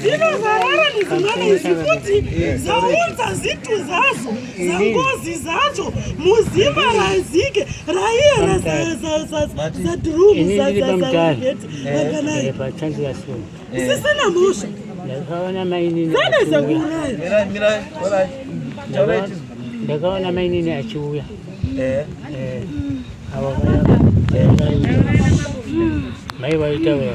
dzinozarara nezimwana izvi futi zvaunza zitu zvazo zangozi zvacho muzimba razike raiye razadrumu zazazazageti vakanayi zvisina mhosva zana zvakuuraya ndakaona mainini achiuya eh. eh. avo mai vaitaura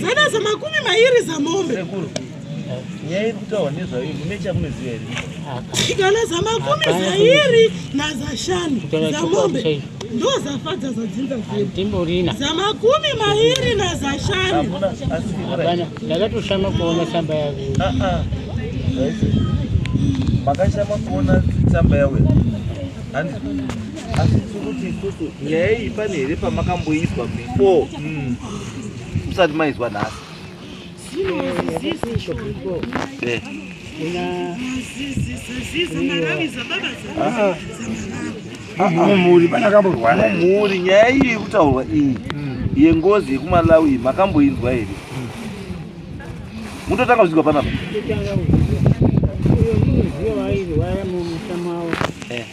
Zana zamakumi mairi zamombe. Sekuru. Nyaya iri kutaurwa nezvayo mune chamunoziva here? Igana zamakumi zairi nazashanu zamombe ndozafadza zadzinza zvedu zamakumi mairi nazashanu ndakatoshama kuona tsamba yavo ah, ah. makashama kuona tsamba yawe asi tiri kuti isusu nyaya iyi pane here pamakamboiswa before mm. musati maizwa nhasi mumhuri pana kamborwara mumhuri nyaya iyi yekutaurwa iyi mm. yengozi yekumalawi iyi makamboinzwa here mm. mutotanga kuzigwa panapa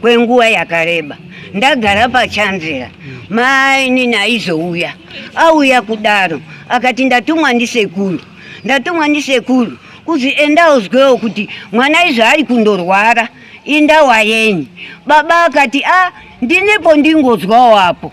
kwenguva yakareba ndagara pachanzira mainini aizouya auya kudaro akati ndatumwa ndisekuru ndatumwa ndisekuru kuzi enda uzwewo kuti mwana izvo ari kundorwara indawa yenyu baba akati a ah, ndinepo ndingozwawo apo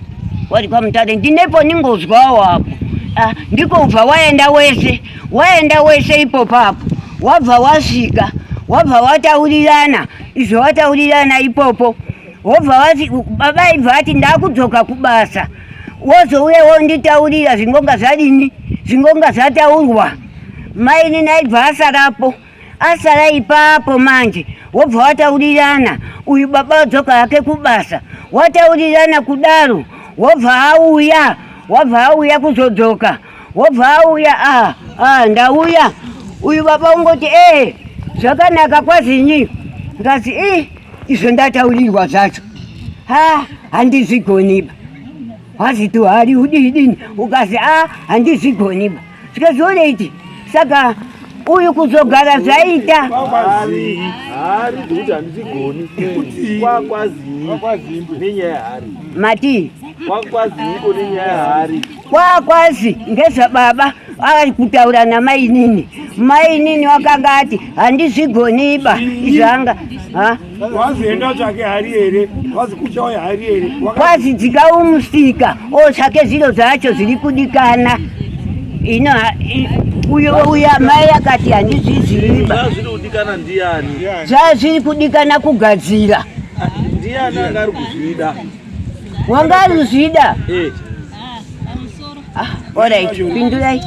wari kwamutare ndinepo ndingozwawo apo ah, ndiko ubva waenda wese waenda wese ipopapo wabva wasvika wabva wataurirana izvo wataurirana ipopo wobva wati baba aibva ati ndakudzoka kubasa wozouya wonditaurira zvingonga zvadini zvingonga zvataurwa maini naibva asarapo asara ipapo manje wobva wataurirana uyu baba wadzoka hake kubasa wataurirana kudaro wobva auya wabva auya kuzodzoka wobva auya ah, ah, ndauya uyu baba ungoti ee zvakanaka kwazinyi ngazi i izvo ndataurirwa zvacho ha handizvigoniba wazito hari udidini ukazi a handizvigoniba zvikazoreiti saka uyu kuzogara zvaita mati Kwakwazi ngezvababa ava kutaura namainini. Mainini wakanga ati handizvigoniba izvanga kwazi enda tsvake hari here kwazi kuchauya hari here kwazi dzikawo musika otsvake zviro zvacho zviri kudikana ino uyo uya mai akati handizviziva zvazviri kudikana kugadzira ndiani angari kuzvida wanga anozvida eh. ah, orit pindurai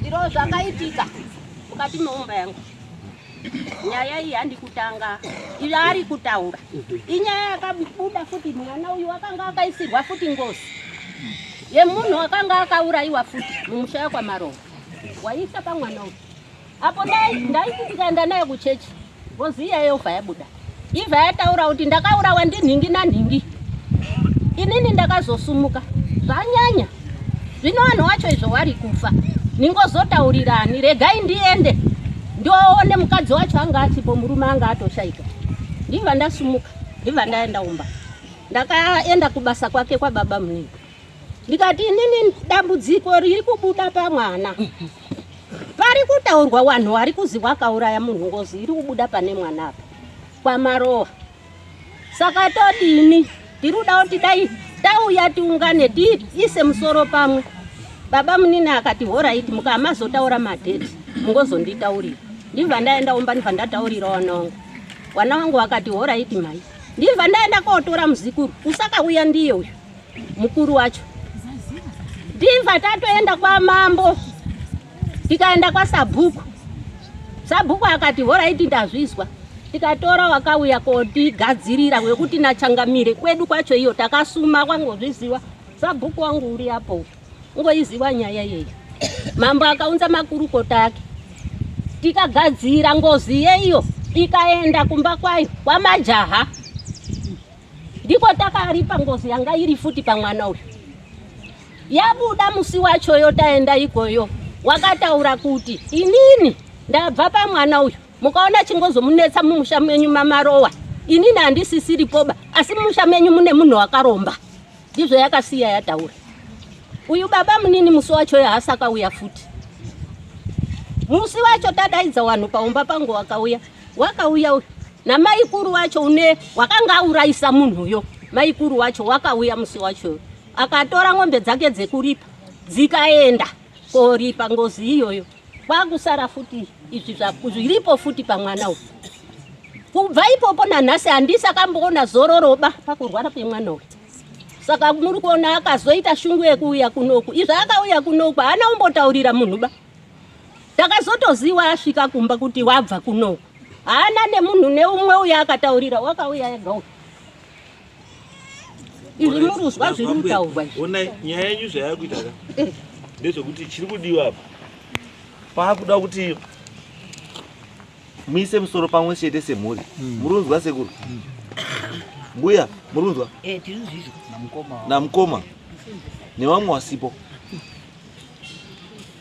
iro zvakaitika mukati meumba yangu nyaya iyi handi kutanga iyo ari kutaura inyaya yakabuda futi mwana uyu akanga akaisirwa futi ngozi yemunhu akanga akaurayiwa futi mumusha yakwamarova waisa pamwana uyu apo ndaisitikanda naye kuchechi ngozi iya yobva yabuda ibva yataura kuti ndakaurawa ndinhingi nanhingi inini ndakazosumuka zvanyanya zvino vanhu wacho izvo wari kufa ningozotaurirani regai ndiende ndoone mukadzi wacho anga asipo murume anga atoshaika ndibva ndasumuka ndibva ndaenda umba ndakaenda kubasa kwake kwababa munini ndikati inini dambudziko riri kubuda pamwana pari kutaurwa wanhu wari kuzi wakauraya munhu ngozi iri kubuda pane mwana apa kwamarowa saka todini tiri kuda kuti dai tauya tiungane tiise musoro pamwe baba munini akati horaiti mukamazotaura madheti mungozonditaurira ndibva ndaenda umba ndibva ndataurira wanongo wana wangu wakati horaiti mai ndibva ndaenda kotora muzikuru usakauya ndiye uyu mukuru wacho ndibva tatoenda kwamambo tikaenda kwasabhuku sabhuku akati horaiti ndazvizwa tikatora wakauya kotigadzirira wekuti nachangamire kwedu kwacho iyo takasuma kwangozviziva sabhuku wangu uri apo ngoiziva nyaya yeyo mambo akaunza makurukota ake tikagadzira ngozi yeiyo ikaenda kumba kwayo kwamajaha Ndiko takaripa ngozi yanga iri futi pamwana uyu. Yabuda musi wachoyo taenda ikoyo wakataura kuti inini ndabva pamwana uyu mukaona chingozomunetsa mumusha menyu mamarowa inini handisisiripoba asi mumusha menyu mune munhu wakaromba ndizvo yakasiya yataura uyu baba munini musi wacho haasakauya futi musi wacho tadaidza wanhu paumba pangu wakauya Wakauya uyu namaikuru wacho une wakanga aurayisa munhu uyo. Maikuru wacho wakauya musi wacho akatora ng'ombe dzake dzekuripa dzikaenda koripa ngozi iyoyo kwakusara futi izvi zviripo futi pamwana uyu kubva ipopo nanhasi handisi akamboona zororoba pakurwara kwemwana uyu saka muri kuona akazoita shungu yekuuya kunoku izvi akauya kunoku haana umbotaurira munhuba Takazotoziwa asvika kumba kuti wabva kunoku. Haana nemunhu neumwe uya akataurira wakauya ega uyu. Izvi muruzwa zviri kutaurwa izvi. Onai nyaya yenyu zvayava kuita ka. Eh. Ndezvekuti chiri kudiwa apa. Paakuda kuti muise musoro pamwe chete semhuri. Hmm. Murunzwa sekuru. Hmm. Mbuya, murunzwa? Eh, tiri zvizvo. Namukoma. Namukoma. Nevamwe wasipo.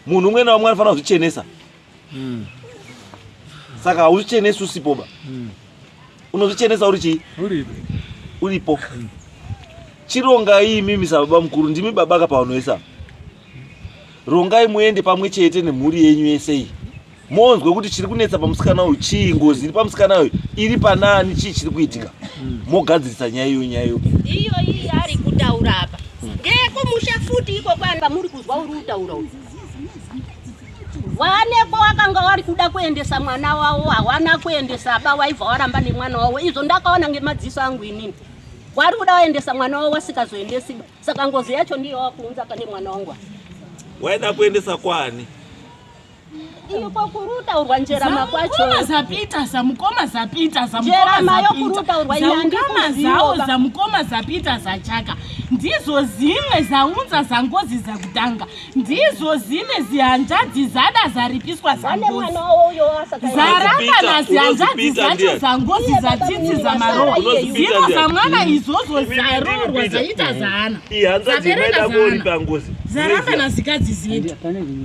munhu umwe naumwe anofanira kuzvichenesa hmm. saka hauzvichenesi usipoba hmm. unozvichenesa uri chii uripo hmm. chirongai imimi sababa mukuru ndimi baba ka pavanoisa rongai muende pamwe chete nemhuri yenyu yese iyi monzwe kuti chiri kunetsa pamusikana uyu chii ngozi iri pamusikana uyu iri panaani chii chiri kuitika hmm. mogadzirisa nyaya iyo nyaya iyo iyo iyi ari kutaura apa ndeyekumusha futi iko kwani pamuri kuzwa uri kutaura uyu vaneko wakanga wari kuda kuendesa mwana wavo hawana kuendesa ba waibva waramba nemwana wavo izvo ndakaona ngemadziso angu inini wari kuda waendesa mwana wavo wasikazoendesi saka ngozi yacho ndiyo wakuunza pane mwana wangu waida kuendesa kwani Iko kuruta urwa njerama kwacho. Mukoma zapita za mukoma zapita za mukoma zapita. Zaungama zawo za mukoma zapita za chaka. Ndizo zimwe zaunza za ngozi za kutanga. Ndizo zimwe zihanzvadzi zada zaripiswa za ngozi. Zaramba na zihanzvadzi zacho za ngozi za tsitsi za marowa. Zino za mwana izozo zarorwa zaita zaana. Ihanzvadzi maida bori pa ngozi. Zaramba na zikadzi zino.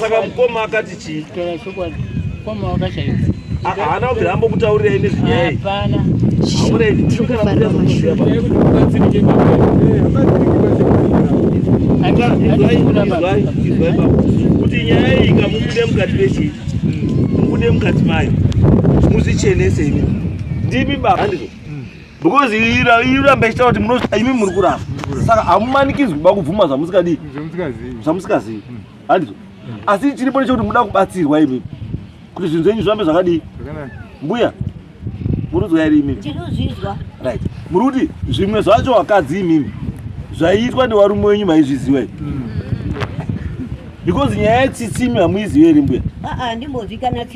saka mukoma akati chii mukoma wakashaiwa haana kubvira ambokutaurira imi zvinyaya hapana aureni tinokanaaaa kuti nyaya iyi ngamubude mukati mechii mubude mukati mayo muzvichenese imi ndimi baba handizvo because iramba ichitaura kuti munozvita imi muri kuramba saka hamumanikidzwi kuba kubvuma zvamusikadii zvamusikazivi hmm. handizo asi chiripo nechekuti muda kubatsirwa imi kuti zvinhu zvenyu zvirambe zvakadii mbuya murudzwa here imimi right muri kuti zvimwe zvacho wakadzi imimi zvaiitwa nevarume wenyu maizviziva imi hmm. because nyaya yetsitsimi hamuizivi here mbuya handimbozikana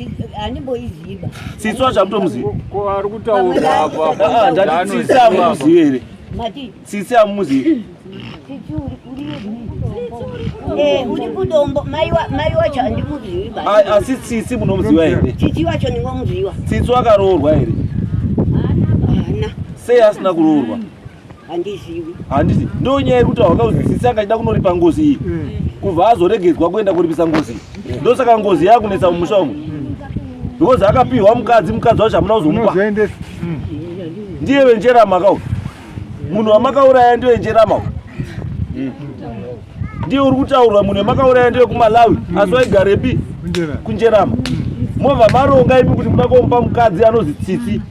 handimboiziva tsitsi wacho hamutomuziviari kutaurandanditsitsi hamuzivi here tsitsi hamuzivi asi tsitsi munomuziva here tsitsi wakaroorwa here sei asina kuroorwa handizivi handizi ndonyaya yekuti hawakauzisisi anga achida kunoripa ngozi iyi mm. kubva azoregedzwa kuenda kuripisa ngozi iyi ndosaka ngozi yakunetsa mumusha umu mm. because akapihwa mukadzi mukadzi wacho hamuna kuzomupa mm. ndiye venjerama kau munhu wamakauraya ndiye venjerama u ndiye uri kutaurwa munhu wemakauraya ndiye kumalawi asi waigarepi kunjerama mova maronga imi kuti muda komupa mukadzi anozi tsitsi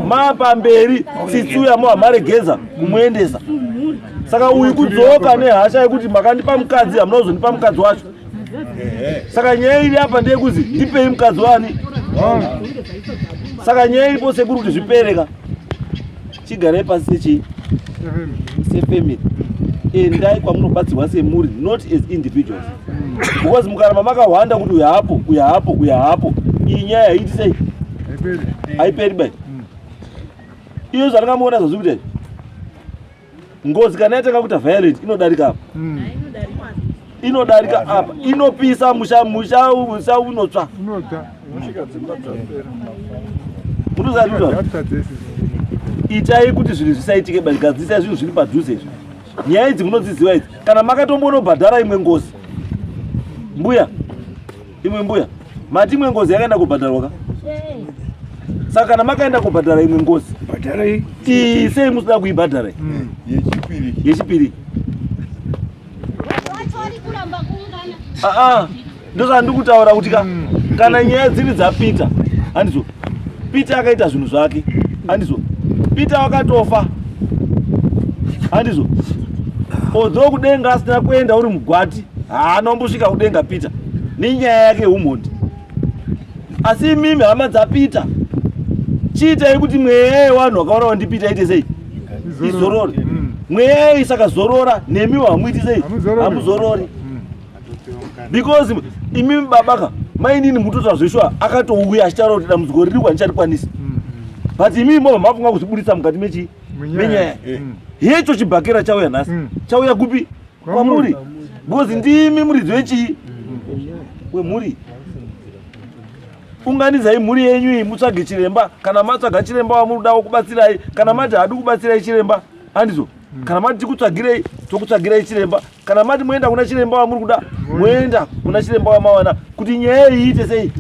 mapa mberi tsitsi uya muhamaregeza kumuendesa saka uyu kudzoka nehasha yekuti makandipa mukadzi hamuna kuzondipa mukadzi wacho saka nyaya iri apa ndeyekuzi ndipei mukadzi wani saka nyaya iripo sekuru kuti zvipereka chigarei pasi sechii sefamily endai kwamunobatsirwa semuri not as individuals because mukaramba makahwanda kuti uya hapo uya hapo uya hapo iyi nyaya haiti sei haiperi bai iyo zvatingamuona zvazvi kuita ngozi kana yatanga kuita violent inodarika apo hmm. inodarika apa inopisa musha musha musha unotsva itai kuti zvinhu zvisaitike but gadzisai zvinhu zviri padhuze izvi nyaya idzi munodziziva idzi kana makatombonobhadhara imwe ngozi mbuya imwe mbuya mati imwe ngozi yakaenda kubhadharwa ka saka kana makaenda kubhadhara imwe ngozi ii sei musina kuibhadhara hmm. yechipiri Aa, ndozvandikutaura kuti ka kana nyaya dziri dzapeter handizo peter akaita zvinhu zvake handizo peter wakatofa handizo although kudenga asina kuenda uri mugwati haana umbosvika kudenga peter nenyaya yake yeumhondi asi imimi hama dzapeter chiitai kuti mweya yewanhu wakaona wandipita ite sei izorore mm. mweya yayo isakazorora nemi hamuiti sei hamuzorori mm. because imi babaka mainini mutoita zveshuwa akatouya achitaura kuti dambudziko riri kwanichatikwanisa mm. but imi mova mafunga kuzvibudisa mukati mechii menyaya eh. hecho chibhakera chauya nhasi chauya kupi kwamuri because ndimi muridzi wechii wemhuri unganidzai mhuri yenyu iyi mutsvage chiremba kana matsvaga chiremba wamurudawo kubatsirai kana mati hadi kubatsirai chiremba handizo mm. kana mati tikutsvagirei tokutsvagirai chiremba kana mati moenda kuna chiremba wamuri kuda moenda kuna chiremba wamawana kuti nyaya iyi iite sei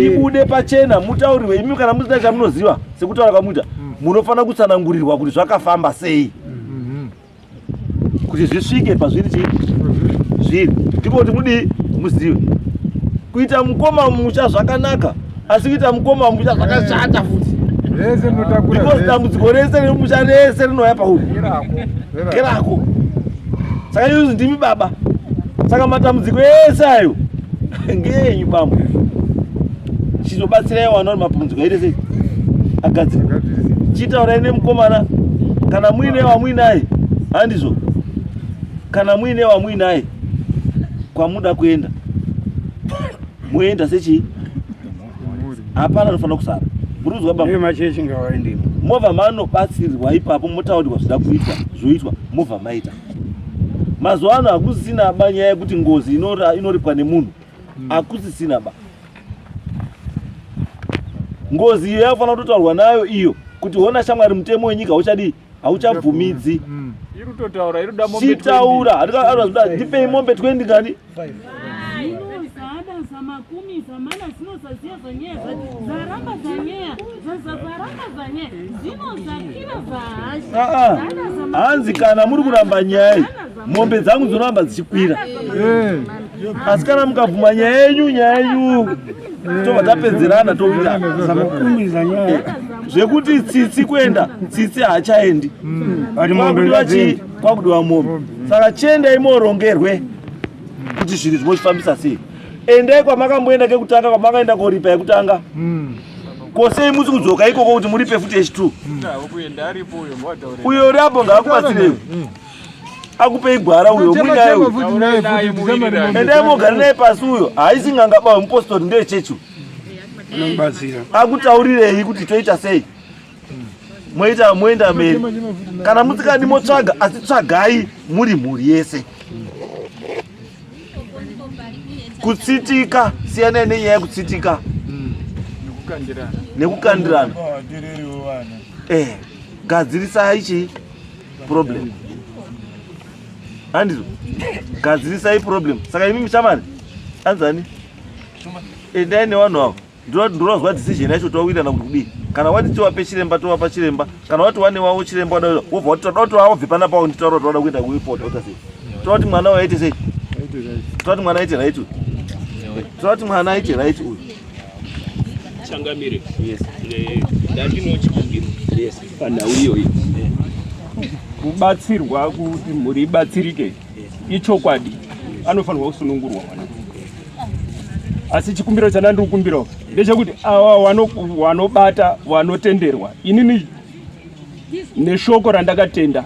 ibude pachena mutaurirwe imi kana musina chamunoziva sekutaura kwamuita mm. munofanira kutsanangurirwa kuti zvakafamba sei kuti zvisvike pazviri chii zviri ndiko kuti mudii muzive kuita mukoma mucha zvakanaka asi kuita mukoma mucha zvakashata futi because dambudziko rese remucha rese rinouya pauri kerako saka yuzi ndimi baba saka matambudziko ese ayo ngeenyu bambo chizobatsirai wana uri mabhunzi kwaite sei agadzira chitaurai nemukomana kana muine wamuinaye handizvo kana muine wamuinaye kwamuda kuenda moenda sechii hapana anofanira kusara muriuzwa bamachechi ngawaendemo mova manobatsirwa ipapo motaurirwa zvida kuitwa zvoitwa mova maita mazuva ano hakusisina banyaya yekuti ngozi inoripwa nemunhu mm. akusisina ba ngozi iyo yafanira kutotaurwa nayo iyo kuti hona shamwari mutemo wenyika hauchadii hauchabvumidzi mm. chitaura hatiaazvida ndipei mombe 20 kani hanzi kana muri kuramba nyaya mombe dzangu dzinoramba dzichikwira eh. asi kana mukabvuma nyaya yenyu nyaya yenyu tobva tapedzerana toita eh. zvekuti tsitsi kuenda tsitsi haachaendi hmm. kwakudiwa mombe hmm. saka chiendai morongerwe kuti zvinhu zvimochifambisa sei endai kwamakamboenda kekutanga kwamakaenda koripa yekutanga hmm. kosei musi kudzoka ikoko kuti muripe futi yechitwo uyo uri apo ngaakubatsirewo akupei gwara uyo muinayoendai mogara naye pasi uyo haisi nganga bawe mupostori ndeye chechi akutaurirei kuti toita sei moita moenda mberi kana musikadi motsvaga asi tsvagai muri mhuri yese kutsitika siyanai nenyaya yekutsitika nekukandirana eh, gadzirisai chii problem handizvo gadzirisai problem saka imi muchamani anzani endai nevanhu avo ndinonzwa decision yacho towirana kuti kudii kana wati tiwape chiremba tovapa chiremba kana wati wane wavo chiremba wobva wati toda kuti wavo bve pana pavo nditaura kuti wada kuenda kuipota wota sei toda kuti mwana uyo aite sei toda kuti mwana aite right uyu toda kuti mwana aite right uyu changamire yes eh, ndatinochikumbiro yes panhau iyoyi kubatsirwa kuti mhuri ibatsirike ichokwadi anofanirwa kusunungurwa mwana asi chikumbiro chandandiri kukumbirawo ndechekuti awa wanobata wanotenderwa inini neshoko randakatenda